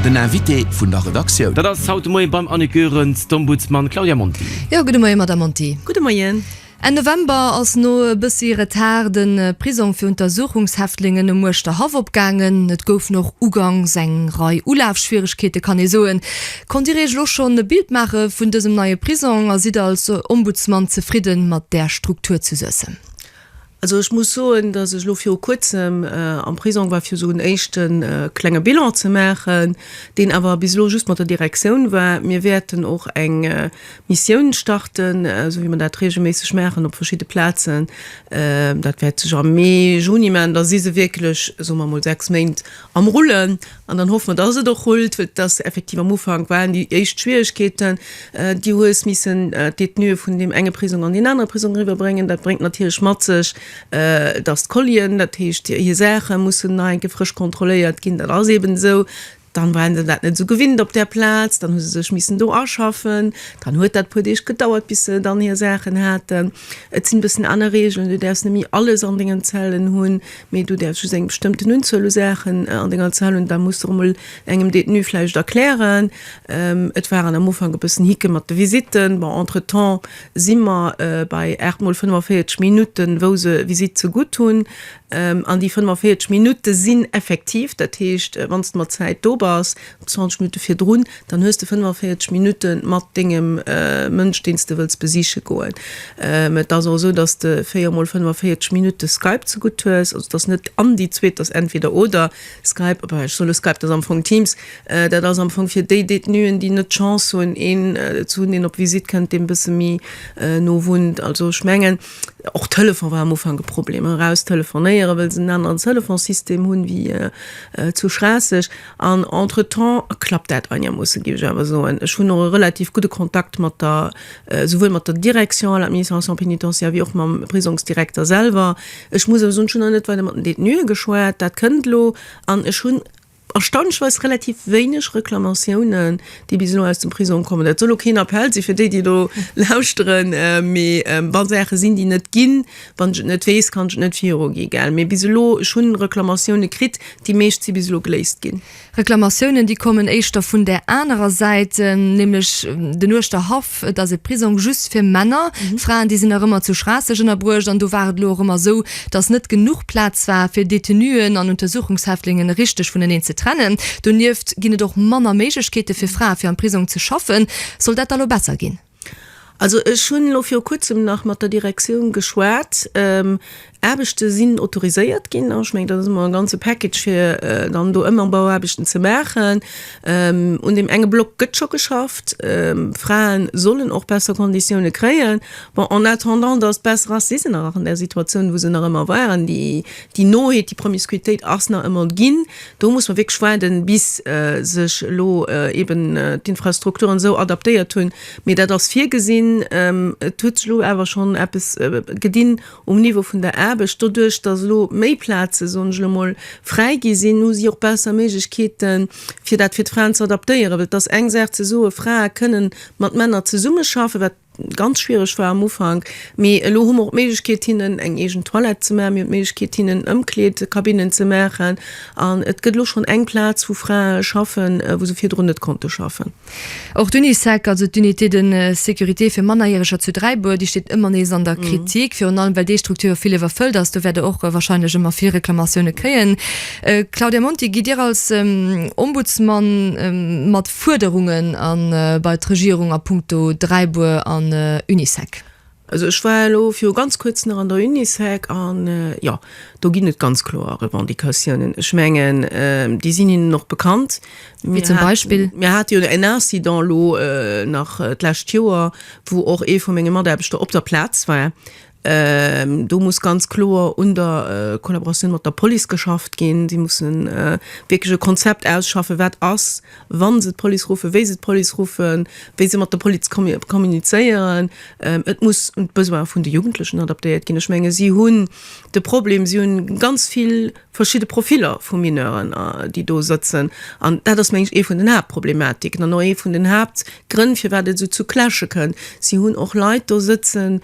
Den Invité vun der Redaktioun. Dat ass haut de Moien beim Annick Goerens d'Ombudsman Claudia Monti. Jo, gudde Moie Madamm Monti. Gudde Moien. Enn November ass no e bëssi Retard de Prisong fir Untersuchungshäftlingen um Uerschterhaff opgaangen. Et goufen och ugangs eng Rei Ulafschwieregkeete kann ee soen. Konnt Dir Iech elo schonn e Bild maache vun dësem neie Prisong a sidd als Ombudsman zefridde mat där Struktur zu Suessem? Also ech muss soen, dass ech elo viru kuerzem am Prisong war, fir esou en éischte klenge Bilan ze maachen, deen awer bis elo just mat der Direktioun war. Mir wäerten och eng Missioun starten, esou wéi mer dat reegelméisseg maachen op verschidde Plazen. Dat wäert sech am Mee, Juni maachen. Da si se wierklech, soe mer emol, sechs Méint am Rullen. An dann hoffe mer, dass et och rullt, well et ass effektiv, am Ufank waren déi éischt Schwierigkeeten. Du hues missen d'Détenue vun deem enge Prisong an deen anere Prisong eriwwerbréngen. Dat bréngt natierlech mat sech, dass d'Collien, dat heescht hir Saache mussen nach eng Kéier frësch kontrolléiert ginn. Dat ass eeben esou. Dann waren se dat net esou gewinnt op där Plaz. Dann hu se sech missen do aschaffen. Dann huet dat e puer Deeg gedauert, bis se dann hir Saachen haten. Et sinn e bëssen aner Regeln. Du däerfs net méi alles an dengen Zellen hunn. Mee du däerfs just eng bestëmmten Unzuel u Saachen an denger Zahl hunn. Dat muss de och emol engem Détenu vläicht erklären. Et waren am Ufank e bëssen Hicke mat de Visitten. Bon, entretemps si mer bei 8 mol 45 Minutten, wou se e Visitt zegutt hunn. An déi 45 Minutte sinn effektiv. Dat heescht, wann s de mat Zäit do bass, 20 Minutte virdrun, dann hues de 45 Minutte mat dengem Mënsch, deen s de wëlls besiche goen. Et ass och esou, datt de véier mol 45 Minutte Skype zegutt hues. Also et ass net an déi zweet, et ass entweder oder. Skype, oh bah, ech soe lo Skype, et ass am Fong Teams. Dat ass am Fong fir déi Détenuen, déi net d'Chance hunn, een ze hunn, deen op Visitt kënnt, deen e bësse méi no wunnt. Also ech mengen, och Telefon war am Ufank e Problem, eraus telefonéieren, well se en aneren Telefonsystem hunn wéi zu Schraasseg. An entretemps klappt dat einermoossen, géif ech awer soen. Ech hunn och e relativ gudde Kontakt mat der, souwuel mat der Direction à l'administration pénitentiaire wéi och mam Prisongsdirekter selwer. Ech muss awer soen, ech hunn nach net weider mat den Detenue geschwat. Dat kënnt elo. An ech hunn erstaunlechweis relativ wéineg Reklamatiounen, déi bis elo aus dem Prisong kommen. Dat soll elo keen Appell si fir déi, déi elo lauschteren, mee wa Saache sinn, déi net ginn, Wann ech et net weess, kann ech et net virugi, gell? Mee bis elo, ech hunn Reklamatioune kritt, déi meescht si bis elo geléist ginn. Reklamatiounen, déi kommen éischter vun där anerer Säit, nämlech den Uechter Haff. Et ass e Prisong just fir Männer. Fraen, déi sinn nach ëmmer zu Schraasseg ënnerbruecht. An do war et elo och ëmmer esou, dass net genuch Plaz war, fir Detenuen an Untersuchungshäftlingen richteg vuneneen ze trennen. Donieft ginn et och manner Méiglechkeete fir Frae, fir am Prisong ze schaffen. Soll dat da elo besser ginn? Also ech hunn elo viru kuerzem nach mat der Direktioun geschwat. Aarbechte sinn autoriséiert ginn. Ech mengen, dat ass emol e ganze Package, fir dann do ëmmer Bauaarbechten ze maachen. Un deem enge Block gëtt scho geschafft. Frae sollen och besser Konditioune kréien. Bon, en attendant datt et besser ass, si se nach an där Situatioun, wou se nach ëmmer waren. Déi Noheet, déi Promiscuitéit ass nach ëmmer ginn. Do muss mer wierklech waarden, bis sech elo eeben d'Infrastrukturen esou adaptéiert hunn. Mee dat ass virgesinn. Et huet sech elo awer schonn eppes gedinn um Niveau vun der Aarbecht. Doduerch, dass elo méi Plaze, soen ech elo emol, fräi gi sinn, hu si och besser Méiglechkeeten, fir dat fir d'Fraen ze adaptéieren. Well et ass eng Saach ze soen, Frae kënnen mat Männer zesummeschaffen, wat ganz schwiereg war am Ufank, mee elo hu mer och d'Méiglechkeet hinnen eng eegen Toilette ze maachen, mir hunn d'Méiglechkeet hinnen Ëmkleedkabinnen ze maachen an et gëtt elo schonn eng Plaz wou Frae schaffen, wou se virdrun net konnte schaffen. Och d'Unisec, also d'Unité de sécurité fir Mannerjäreger zu Dräibuer, déi steet ëmmer nees an der Kritik, virun allem well déi Structure vill iwwerfëllt ass. Do wäert Der och wahrscheinlech ëmmer vill Reklamatioune kréien. Claudia Monti, gitt Dir als Ombudsman mat? Fuerderungen an bei d'Regierung a Punkto Dräibuer an Unisec? Also ech war elo viru ganz kuerzem nach an der Unisec an, jo, do ginn et ganz kloer Revendicatiounen. Ech mengen, déi sinn hinnen och bekannt. Wéi zum Beispill? Mir hate jo en Incident elo nach d'lescht Joer, wou och ee vu menge Mataarbechter op der Plaz war, Do muss ganz kloer un der Kollaboratioun mat der Police geschafft ginn. Si musse wierklech e Konzept ausschaffen, wat ass, wa se d'Police ruffe, wéi se d'Police ruffen, wéi se mat der Police kommunizéieren. Et muss un d'Besoine vun de Jugendlechen adaptéiert ginn. Ech menge si hunn de Problem, si hunn ganz vill verschidde Profiller vu Mineuren, déi do sëtzen. An dat ass meng ech ee vun den Haaptproblematiken an och ee vun den Haaptgrënn, firwat et esou zu Clashe kënnt. Si hunn och Leit do sëtzen,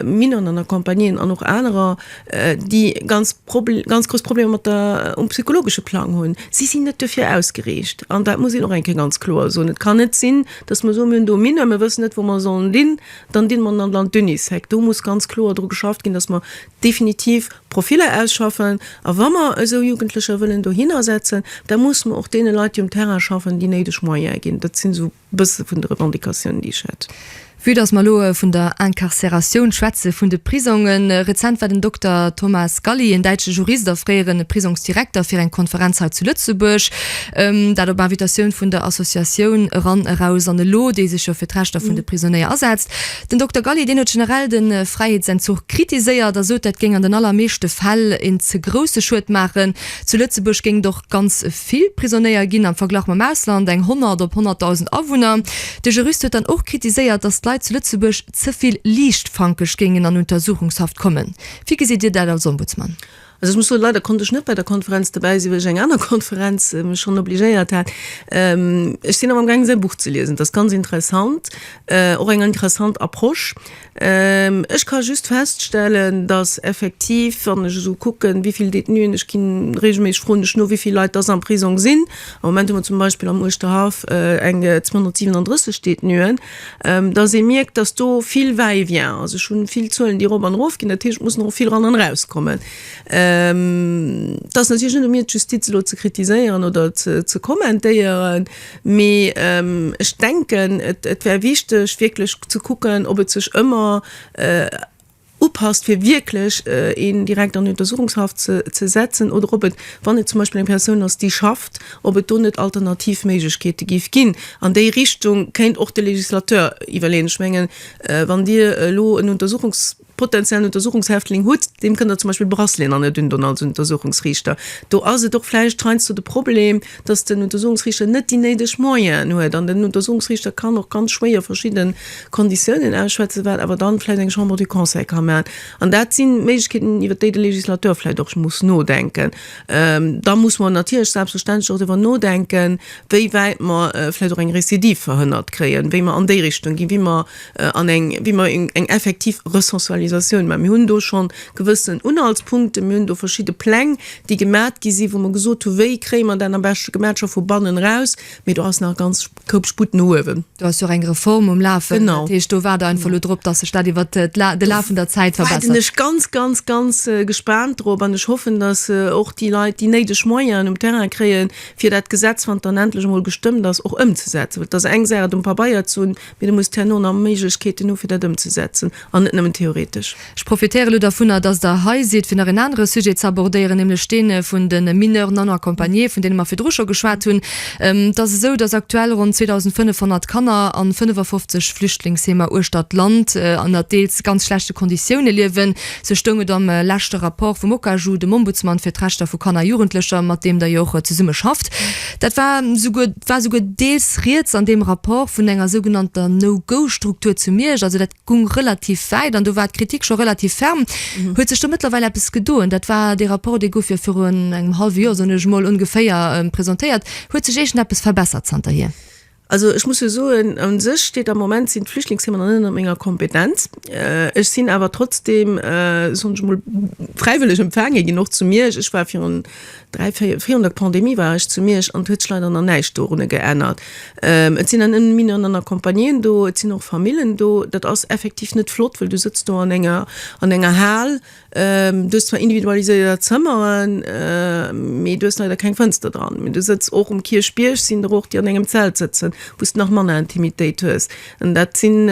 Mineren an Accompagneen an och anerer, déi ganz Probleem, ganz grouss Problemer mat der, um psychologesche Plang hunn. Si sinn net dofir ausgeriicht an dat muss een och eng Kéier ganz kloer soen. Et kann net sinn, dass mer soen, Mir hunn do Mineur, mir wëssen net, wou mer sollen dinn, dann dinn mer an d'Unisec. Do muss ganz kloer dru geschafft ginn, dass mer definitiv Profiller ausschaffen. A wa mer esou Jugendlecher wëllen dohinner setzen, da muss mer och deene Leit, déi um Terrain schaffen, déi néideg Moyene ginn. Dat sinn esou. E bësse vun de Revendicatiounen, déi ech hätt. Vue datt mer elo vun der Incarcératioun schwätzen, vun de Prisongen, Rezent war den Dokter Thomas Galli, en däitsche Jurist a fréiere Prisongsdirekter, fir eng Konferenz hei zu Lëtzebuerg, dat op Invitatioun vun der Associatioun Eran Eraus an Elo, déi sech jo fir d'Rechter vun de Prisonnéier asetzt. Den Dokter Galli, deen huet generell de Fräiheetsenzuch kritiséiert a sot, dat géing an den allermeeschte Fäll en ze grousse Schued maachen. Zu Lëtzebuerg géing et och. Ganz vill Prisonéier ginn, am Verglach mam Ausland, eng 100 op 100.000 Awunner. De Jurist huet dann och kritiséiert, datt d'Leit zu Lëtzebuerg ze vill liichtfankeg géingen an Untersuchungshaft kommen. Wéi gesitt Dir dat als Ombudsman? Also ech muss soen, leider konnt ech net bei der Konferenz dobäi sinn, well ech eng aner Konferenz mech schonn obligéiert hat. Ech sinn awer am gaang säi Buch ze liesen, dat ass ganz interessant, och eng interessant Approche. Ech ka just feststellen, dass effektiv, wann ech esou kucken, wéi vill Détenuen, ech gi reegelméisseg, froen ech no, wéi vill Leit dass am Prisong sinn, am Moment hu mer zum Beispill am Uerschterhaff eng 237 Détenuen, dass ee mierkt, dass do vill Va-et-vient ass. Ech hu vill Zuelen, déi erop an erof ginn. Dat heescht, et muss nach och vill eran an erauskommen. Et ass natierlech net u mir, d'Justiz elo ze kritiséieren oder ze kommentéieren. Mee ech denken, et wär wichteg, wierklech ze kucken, ob et sech ëmmer upasst, fir wierklech een direkt an Untersuchungshaft ze setzen, oder ob et, wann et zum Beispill eng Persoun ass, déi schafft, ob et do net alternativ Méiglechkeete géif ginn. An déi Richtung kéint och de Legislateur iwwerleeën. Ech mengen, wann Dir elo en Untersuchungs. potenziellen Untersuchungshäftling hutt, deem kënnt Der zum Beispill Bracelet'en an Der dun dann als Untersuchungsriichter. Do ass et och vläicht heiansdo de Problem, dass den Untersuchungsriichter net déi néideg Moyenen huet an den Untersuchungsriichter kann och ganz schwéier verschidde Konditiounen ausschwätzen, wat awer dann vläicht eng Chambre du Conseil ka maachen. An dat si Méiglechkeeten, iwwert déi de Législateur vläicht och muss nodenken. Da muss mer natierlech selbstverständlech och driwwer nodenken, wéi wäit mer vläicht och eng Récidive verhënnert kréien, wéi mer an déi Richtung ginn, wéi mer, an eng, wéi mer eng effektiv Resensualisatioun maachen. Mir hunn do scho gewëssen Unhaltspunkten, mir hunn do verschidde Pläng, déi gemat gi sinn, wou mer gesot hu wéi kréie mer dat am beschte gemat, scho vu bannen eraus, mee do ass nach ganz Koup Sputt no uewen. Do ass jo och eng Reform um Lafen. Genau. Dat heescht, do waart Der einfach elo drop, dass sech dat iwwert de Laf vun der Zäit verbessert. Do waarden ech ganz, ganz, ganz gespaant drop an ech hoffen, dass och déi Leit déi néideg Moyenen um Terrain kréien, fir dat Gesetz, wann et dann endlech emol gestëmmt ass, och ëmzesetzen. Well et ass eng Saach, et um Pabeier ze hunn, Mee du muss herno nach Méiglechkeeten hu fir dat ëmzesetzen an net nëmmen theoretesch. Ech profitéiere elo dervunner, datt Der hei sidd, fir nach en anere Sujet ze abordéieren, nämlech dee vun de Mineurs non accompagnés, vun deene mer virdru scho geschwat hunn. Et ass esou, datt aktuell ronn 2.500 Kanner a 55 Flüchtlingsheemer uechter d'Land ënner deels ganz schlechte Konditioune liewen. Sou stoung et am leschte Rapport vum OCAJU, dem Ombudsmann fir d'Rechter vu Kanner a Jugendlecher, mat deem Der jo och zesummeschafft. Dat war souguer, war souguer deels rieds an deem Rapport vun enger sougenannter No-Go-Struktur zu Miersch. Also dat gung relativ wäit an do war d'Kritik scho relativ ferm. Huet sech do mëttlerweil eppes gedoen? Dat war dee Rapport, dee gouf jo viru engem hallwe Joer, soen ech emol, ongeféier, presentéiert. Huet sech iergendeppes verbessert zanterhier? Also ech muss jo soen, u sech steet am Moment sinn d'Flüchtlingsthemen nach net ënner menger Kompetenz. Ech sinn awer trotzdeem, soen ech emol, fräiwëlleg empfaange ginn, och zu Miersch. Ech war virun dräi, véier, virun der Pandemie war ech zu Miersch an et huet sech leider nach näischt dorunner geännert. Et sinn an ënnen Mineuren an Accompagnéen do, et sinn och Famillen do. Dat ass effektiv net flott, well du sëtzt do an enger, an enger Hal Du hues zwar individualiséiert Zëmmeren, mee du hues leider keng Fënster dran. Mee du sëtz och um Kierchbierg, sinn der och, déi an engem Zelt sëtzen, wou s de nach manner Intimitéit hues. An dat sinn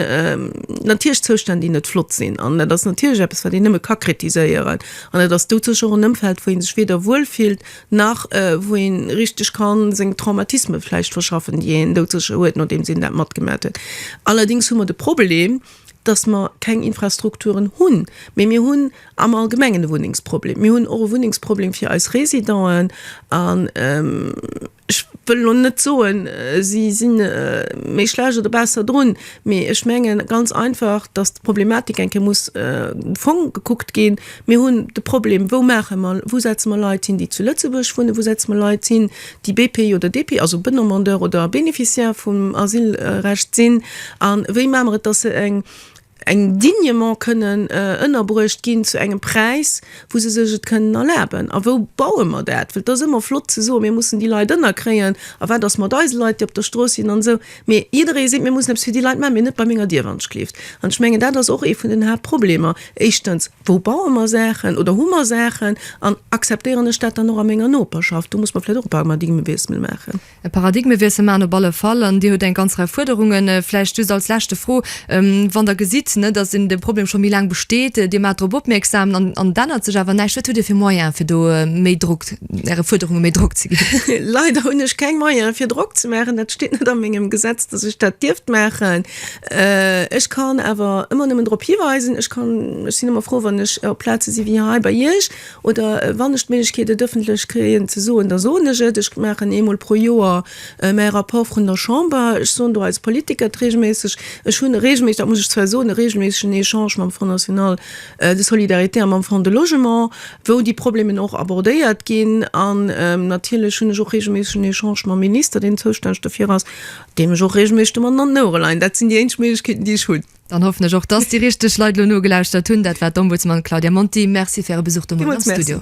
natierlech Zoustänn, déi net flott sinn. An dat ass natierlech eppes, wat een nëmme ka kritiséieren. An dat ass doudsécher och en Ëmfeld, wou ee sech weder wuel fillt, nach wou ee richteg ka seng Traumatisme vläicht verschaffen, déi een doudsécher huet, nodeems een dat matgemaach huet. Allerdéngs hu mer de Problem, dass mer keng Infrastrukturen hunn, mä mir hunn am Allgemengen e Wunnengsproblem. Mir hunn och e Wunnengsproblem fir eis Résidenten. An ech wëll elo net soen, si si méi schlecht oder besser drun, mä ech menge ganz einfach, dass d'Problematik eng Kéier muss de Fong gekuckt ginn. Mir hunn de Problem, Wou maache mer, wou setze mer Leit hin, déi zu Lëtzebuerg wunnen? Wou setze mer Leit hin, déi BPI oder DPI, also Bedemandeur oder Bénéficiaire vum Asylrecht sinn, a wéi maache mer et, dass se eng dignement kënnen ënnerbruecht ginn zu engem Präis, wou se sech et kënnen erlaben? A wou baue mer dat? Well et ass ëmmer flott ze soen, mir mussen déi Leit ënnerkréien, a wat ass mat eise Leit, déi op der Strooss sinn an esou. Mee jidderee seet, mir mussen eppes fir déi Leit maachen, mee net bei menger Dier, wann ech kleeft. An ech mengen, dat ass och ee vun den Haaptproblemer. Éischtens, wou baue mer Saachen oder hu mer Saachen an akzeptéieren ech dat dann och a menger Noperschaft? Do muss mer vläicht och e Paradigmewiessel maachen. E Paradigmewiessel maachen op alle Fall. An Dir hutt eng ganz Rei Fuerderungen. Vläicht just als leschte Fro, Wann Der gesitt, datt een de Problem scho méi laang besteet, Dir maacht drop opmierksam an et ännert sech awer näischt, wat hutt Dir fir Moyene fir do méi Drock Äre Fuerderunge méi Drock ze ginn. Leider hunn ech keng Moyen, fir Drock ze maachen. Dat steet net a mengem Gesetz, dass ech dat dierft maachen. Ech kann awer ëmmer nëmmen drop hiweisen. Ech kann, ech sinn ëmmer frou, wann ech op Plaze si wéi hei bei Iech oder wann ech d'Méiglechkeet, et ëffentlech kréien ze soen, da soen ech et. Ech maachen eemol pro Joer mäi Rapport vun der Chamber. Ech soen do als Politiker d'reegelméisseg, ech hunn e reegelméisseg, dat muss ech zwar soen, e reegelméissegen Echange mam Front national, de Solidarité an mam Fonds de Logement, wou déi Problemen och abordéiert ginn. An natierlech hunn ech och reegelméisseg en Echange mam Minister, deen zoustänneg dofir ass, deem ech och reegelméisseg de Mann an den Ouere leien. Dat sinn déi éinzeg Méiglechkeeten, déi ech hunn. Dann hoffen ech och, dass déi richteg Leit elo nogelauschtert hunn. Dat war d'Ombudsman Claudia Monti. Merci fir Äre Besuch domat am Studio.